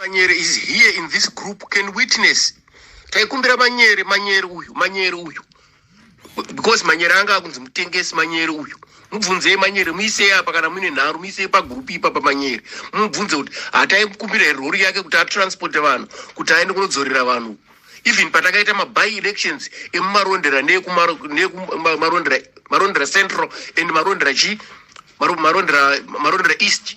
manyere is here in this group can witness taikumbira manyere manyere uyu manyere uyu because manyere anga akunzi mutengesi manyere uyu mubvunzei manyere muisei apa kana muine nharo muisei pagurupu ipapa manyere mubvunze kuti hataikumbira here rori yake kuti atransporte vanhu kuti aende kunodzorera vanhu even patakaita maby elections emumarondera neekumarondera central and marondera chii marondera east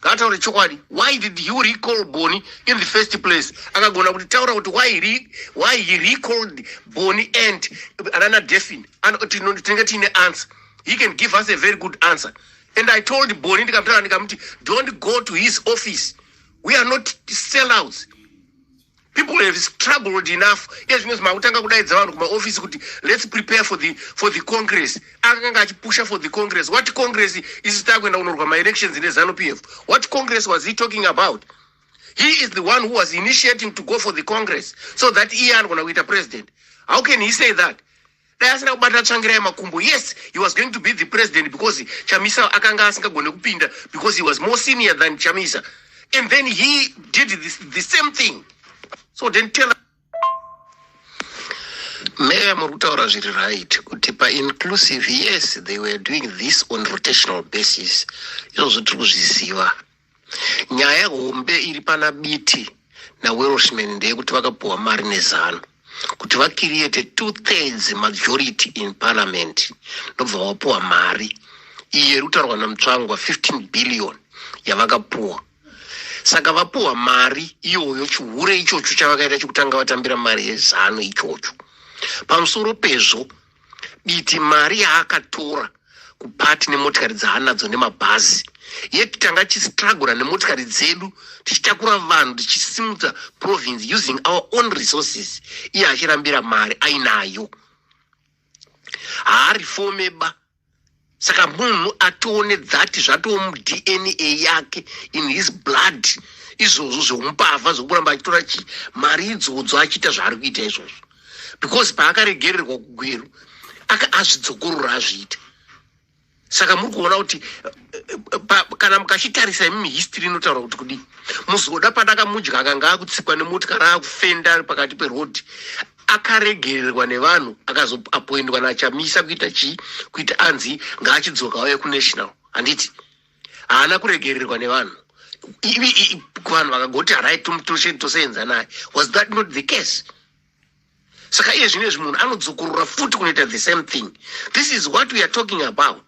ngataure chokwadi why did you recall boni in the first place akagona kuti taura kuti why, re, why he recalled boni and anana defin tinenge tiine answer he can give us a very good answer and i told boni ndikamutara ndikamuti don't go to his office we are not sellouts people have struggled enough ezvinonzi makutanga kudaidza vanhu kumaofisi kuti let's prepare for the, for the congress akanga achipusha for the congress what congress isi takuenda kunorwa maelections nezanu p f what congress was he talking about he is the one who was initiating to go for the congress so that iye anogona kuita president how can he say that dai asina kubata tsvangirai makumbo yes he was going to be the president because chamisa akanga asingagone kupinda because he was more senior than chamisa and then he did this, the same thing so then tell meya muri kutaura zviri right kuti painclusive yes they were doing this on rotational basis izvozvo tiri kuzviziva nyaya hombe iri pana biti nawelshman ndeyekuti vakapuhwa mari nezano kuti vakiriyete two thirds majority in parliament ndobva vapuhwa mari iye iri kutaurwa namutsvangwa 15 billion yavakapuhwa saka vapuhwa mari iyoyo chihure ichocho chavakaita chekutanga vatambira mari yezano ichocho pamusoro pezvo Diti mari yaakatora kupati nemotikari dzaanadzo nemabhazi yet tanga tichistrugura nemotikari dzedu tichitakura vanhu tichisimudza province using our own resources iye achirambira mari ainayo haarifomeba saka munhu atione dzati zvatoo mudna yake in his blood izvozvo zvemumbavha zvekuramba achitora chi mari idzodzo achiita zvaari kuita izvozvo because paakaregererwa kugweru aka azvidzokorora azviita saka muri kuona kuti eh, pa- kana mukachitarisa imi history inotaura kuti kudii muzoda padakamudya akanga akutsikwa nemotikari akufenda ari pakati peroad akaregererwa nevanhu akazoapoindwa nachamisa kuita chii kuita anzi ngaachidzoka auye kunational handiti haana kuregererwa nevanhu vanhu vakagoti harai toseenza naye was that not the case saka iye zvino izvi munhu anodzokorora futi kunoita the same thing this is what we are talking about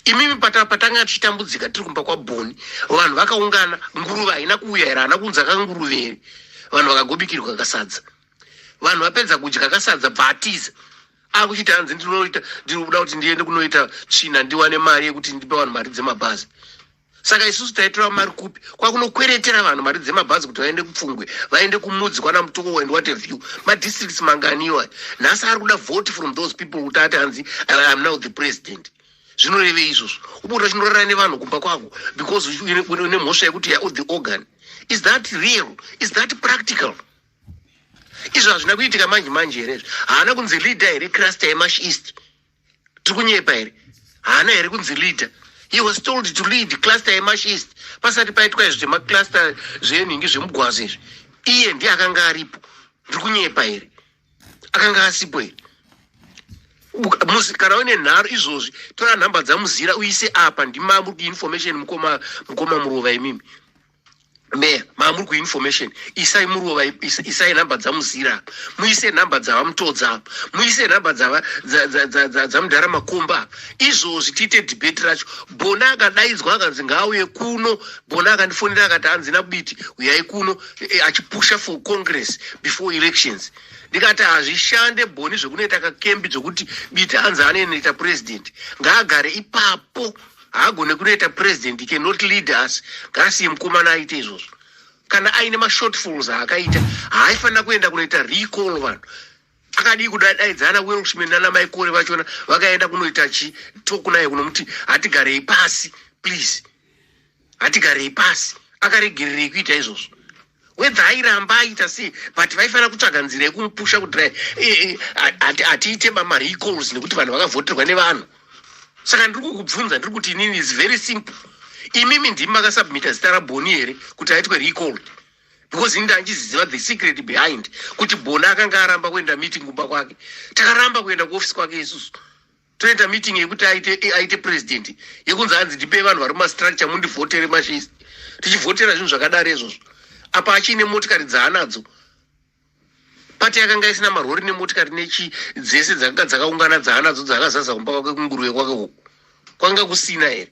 imimi patanga tichitambudzika tiri kumba kwabhoni vanhu vakaungana nguruve haina kuuya here haana kunzi akanguruve here vanhu vakagobikirwa kasadza vanhu vapedza kudya kasadza bva atiza akuchiti hanzi ndinoita ndiri kuda kuti ndiende kunoita tsvina ndiwane mari yekuti ndipe vanhu mari dzemabhazi saka isusu taitora mari kupi kwakunokweretera vanhu mari dzemabhazi kuti vaende kupfungwe vaende kumudzi kwana mutoko and what have you madistricts mangani iwayo nhasi ari kuda vote from those people kuti ati hanzi i am now the president zvinorevei izvozvo ubuda chinorara nevanhu kumba kwako because une mhosva yekuti ya the organ is that real is that practical izvo hazvina kuitika manje manje here izvo haana kunzi leader here crasta yemash east tiri kunyepa here haana here kunzi leader he was told to lead cluster yemashist pasati paitwa izvi zvemacluster zvenhingi zvemugwazo izvi iye ndiye akanga aripo ndiri kunyepa here akanga asipo here musi kana une nharo izvozvi tora nhamba dzamuzira uise apa ndimamuri kuinformation mukoma mukoma muruva imimi meya maamuri kuinformation isai murova isai nhamba dzamuzira apa muise nhamba dzavamutodza apa muise nhamba dzamudhara makomba apa izvozvi tiite debate racho bona akadaidzwa akanzi ngaauye kuno bona akandifonera akati hanzi nabiti uyai kuno eh, achipusha for congress before elections ndikati hazvishande boni zvekunoita kakembi zvekuti biti hanzi anoenoita president ngaagare ipapo haagone kunoita president he cannot lead us ngaasiye mukomana aite izvozvo kana aine mashortfalls aakaita haaifanira kuenda kunoita recall vanhu akadii kudadaidzana welshman nana maikore vachona vakaenda kunoita chi tok naye kunomuti hatigarei pasi please hatigarei pasi akaregererei kuita izvozvo whether airamba aita sei but vaifanira kutsvaga nzira yekumupusha kuti eh, eh, hati- hatiite marecalls nekuti vanhu vakavhoterwa nevanhu saka ndiri kukubvunza ndiri kuti inini is very simple imimi ndimi makasubmita zita raboni here kuti aitwe recall because ini ndandiziva the secret behind kuti boni akanga aramba kuenda meeting kumba kwake takaramba kuenda kuoffice kwake isusu toita meeting yekuti aite aite president yekunzi hanzi ndipei vanhu vari mumastructure mundivhotere mashis tichivhotera zvinhu zvakadaro izvozvo apa achiine motikari dzaanadzo pati yakanga isina marori nemotikari nechi dzese dzakanga dzakaungana dzaanadzo dzaakazaza kumba kwake kunguruve kwake uku kwanga kusina here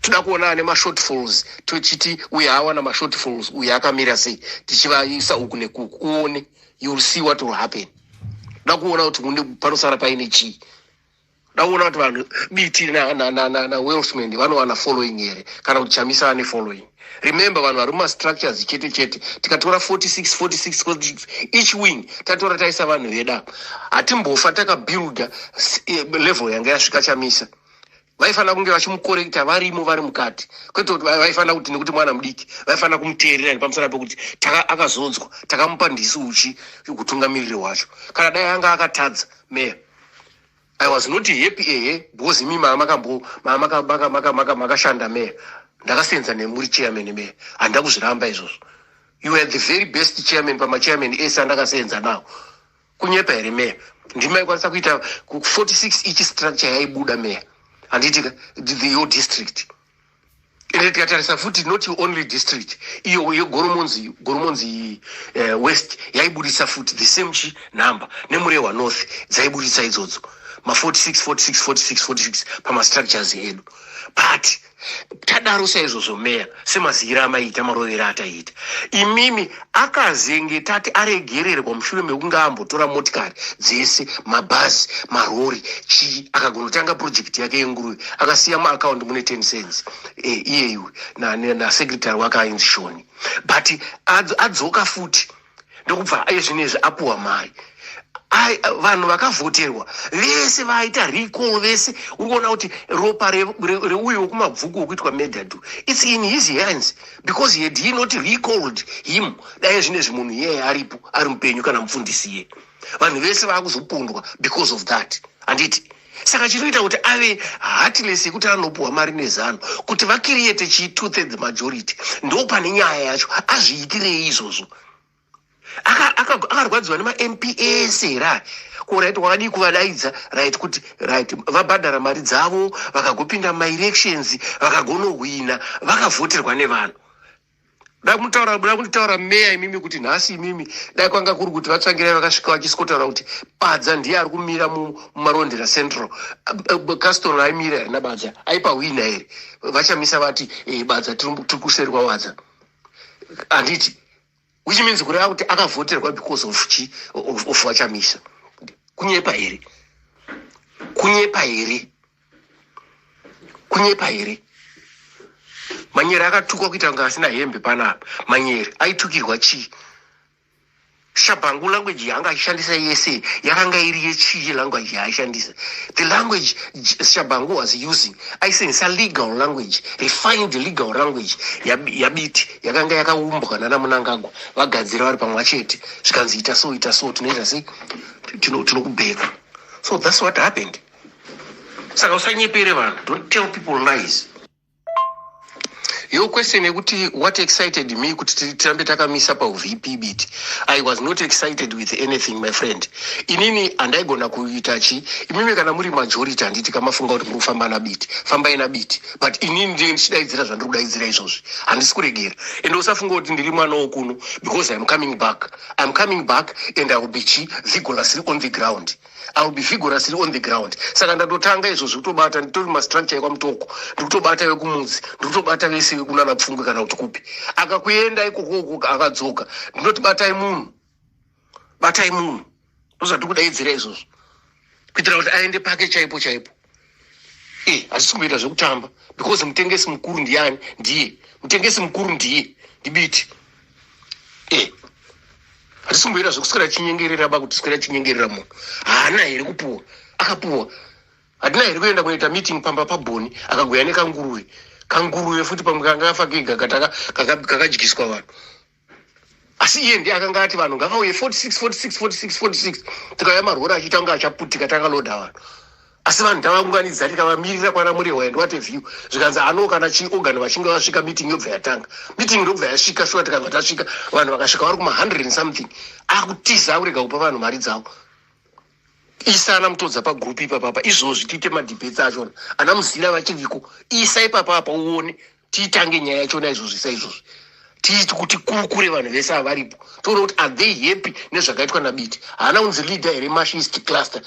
toda kuona ane mashortfalls tochiti uye awana mashortfalls uye akamira sei tichivaisa uku nekuku uone youll see what will happen da kuona kuti une panosara paine chii da kuona kuti vanhu biti nawelsman vanowana following here kana kuti chamisa ane following remember vanhu vari mumastructures chete chete tikatora 46 46 46 each wing tatora taisa vanhu vedapo hatimbofa takabuilda eh, level yanga yasvika chamisa vaifanira kunge vachimukorekta varimo vari mukati kwete kuti vaifanira kuti nekuti mwana mudiki vaifanira kumuteerera nepamusana pekuti akazodzwa takamupa ndisi uchi kutungamiriri wacho kana dai anga akatadza meya i was not happy ehe because imi maamakashanda meya ndakasenza nemuri chairman meya handida kuzviramba izvozvo you were the very best chairman pamachairman ese andakasenza nawo kunyepa here meya ndimi maikwanisa kuita 46 each structure yaibuda meya handiti the your district ende tikatarisa futi not only district iyo yegoromonzi goromonzi uh, west yaibudisa futi the same chi number nemurehwa north dzaibudisa idzodzo ma 46 46 46 46 pamastructures edu but tadaro saizvozvo meya semaziyiro amaiita marovero ataiita imimi akazenge tati aregererwa mushure mekunge ambotora motikari dzese mabhazi marori chii akagonotanga purojekiti yake yenguruve akasiya muakaundi mune ten cents e, iye iwe nasecretary wake ainzi shoni but adzoka futi ndokubva iye zvinezvi apuwa mari vanhu vakavhoterwa vese vaita recall vese uri kuona kuti ropa reuyo wekumabvuku wekuitwa medadu its in his hands because he had he not recalled him dai zvinezvi munhu iyeye aripo ari mupenyu kana mufundisi iye vanhu vese vaakuzopondwa because of that handiti saka chinoita kuti ave heartless yekuti anopuhwa mari nezano kuti vakiriyete chii two thirds majority ndo pane nyaya yacho azviitirei izvozvo akarwadziwa nemamp ese here aya ko right wakadii kuvadaidza right kuti right vabhadhara mari dzavo vakagopinda maelections vakagonohwina vakavhoterwa nevanhu da kutaura da kutaura meya imimi kuti nhasi imimi dai kwanga kuri kuti vatsvangirai vakasvika vachisikotaura kuti badza ndiye ari kumira mumarondera central castor aimira here nabadza aipa hwina here vachamisa vati e, badza tiri kuseri kwawadza handiti which means kureva kuti akavhoterwa because of chi of, of vachamisa kunyepa here kunyepa here kunyepa here manyere akatukwa kuita kunge asina hembe panapa manyere aitukirwa chii shabhangu language yaanga achishandisa yese yakanga iri yechii language yaaishandisa the language shabhangu was using aisenzisa legal language refined legal language yabiti yakanga yakaumbwa nana munangagwa vagadzira vari pamwa chete zvikanzi ita so ita so tinoita sei tinokubheka so thats what happened tino saka usanyepere vanhu don't tell people lies yo question yekuti what excited me kuti tirambe takamisa pauvp bit i was not excited with anything my friend inini handaigona kuita chi imimi kana muri majority handiti kamafunga kuti muri kufamba nabit fambai nabit but inini ndine ndichidaidzira zvandiri kudaidzira izvozvi handisi kuregera ende usafunga kuti ndiri mwana wokuno because iam coming back iam coming back and i will be chi vigorous on the ground i will be vigorously on the ground saka ndatotanga izvo zvekutobata nditori mastructure ekwamutoko ndikutobata vekumudzi ndikutobata vese vekunana pfungwe kana kuti kupi akakuenda ikoko ukoko akadzoka ndinoti batai munhu batai munhu ndozvatiri kudaidzira izvozvo kuitira kuti aende pake chaipo chaipo Eh, hazvisi kumboita zvekutamba because mutengesi mukuru ndiyani ndiye mutengesi mukuru ndiye ndibiti eh, hazvisi kumboita zvekuswera chinyengerera ba kuti swera chinyengerera munhu haana here kupuwa akapuwa hatina here kuenda kunoita meeting pamba pabhoni akagoya nekanguruve kanguruve futi pamwe kanga kafa kega kakadyiswa vanhu asi iye ndiye akanga ati vanhu ngavauye 46 46 46 46 tikauya marori achitanga achaputika takaloda vanhu asi vanhu tavaunganidza tikavamirira kwana murewa and what a view zvikanzi ano kana chiorgan vachinge vasvika meeting yobva yatanga meeting ndobva yasvika shuwa tikabva tasvika vanhu vakasvika vari kuma 100 and something akutiza akurega kupa vanhu mari dzavo isa ana mutodza pagroup ipapapa izvozvi tiite madebets achona ana muzila vachiviko isa ipapapa uone tiitange nyaya yachona izvozvi sa izvozvi tiiti kuti kurukure vanhu vese avaripo toona kuti are they happy nezvakaitwa nabiti haana unzi leader here mashist cluster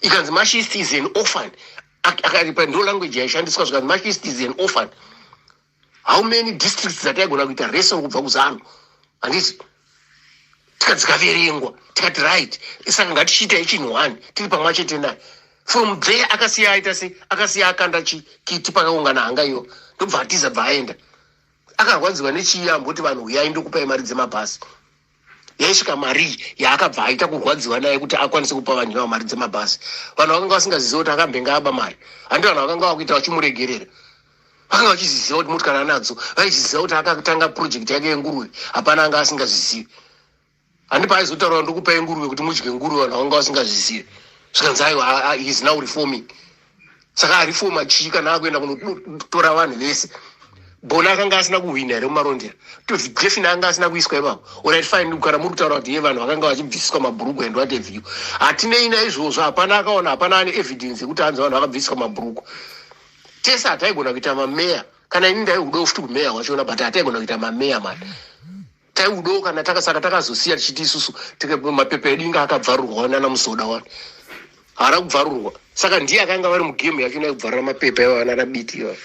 ikanzi mashist is an orphan akaripa ndo language yaishandiswa zvikanzi mashist is an orphan how many districts dzataigona kuita rese kubva kuzanu handiti tika dzikaverengwa tikati right saka ngatichiita echinhu one tiri pamwa chete naye from there akasiya aita se akasiya akanda chikiti pakaungana hanga iyo ndobva atiza bva aenda akarwadziwa nechii amboti vanhu huyai ndokupai mari dzemabhasi yaisvika marii yaakabva aita kurwadziwa naye kuti akwanise kupa vanhu ivavo mari dzemabhazi vanhu vakanga vasingaziziva kuti akambenge aba mari handi vanhu vakanga vakuita vachimuregerera vakanga vachiziziva kuti motikari anadzo vaiziziva kuti akatanga purojekti yake yenguruve hapana anga asingazvizivi handi paaizotaura ndikupai nguruve kuti mudye nguruve vanhu vakanga vasingazizivi zvikanzi aiwa is now reforming saka ari foma chii kana akuenda kunotora vanhu vese bona akanga asina kuhwina here mumarondera tozi jefin anga asina kuiswa ipapo orit fine kana muri kutaura kuti ye vanhu vakanga vachibvisiswa mabhuruku and what have you hatinei naizvozvo hapana akaona hapana ane evidence yekuti hanzi vanhu vakabvisiswa mabhuruku tese hataigona kuita mameya kana ini ndaiudawo futi kumeya wachiona but hataigona kuita mameya mani taiudawo kana taka saka takazosiya tichiti isusu mapepa edu inga akabvarurwa wani ana musoda wani haana kubvarurwa saka ndiye akanga vari mugame yacho ina kubvarura mapepa iva vana rabiti iva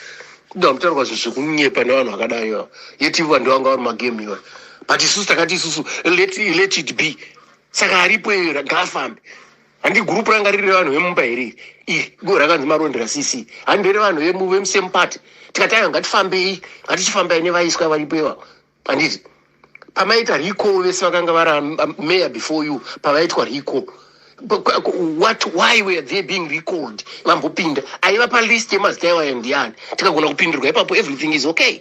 kuda kutaurwa zvinhu zvekunyepa nevanhu vakadai iva yeti ivo vandu vanga vari magame iva but isusu takati isusu let, let it be saka aripo iyo ngaafambe handi gurupu ranga riri revanhu vemumba here iri go rakanzi marondera cc handi revanhu vemusemupati tikati ayo ngatifambei ngatichifambai nevaiswa varipo ivavo handiti pamaita recall vese vakanga vari am- am- mayor before you pavaitwa recall But qu- qu- what why were they being recalled vambopinda aiva palist yemazita iwayo ndiyani tikagona kupindirwa ipapo everything is okay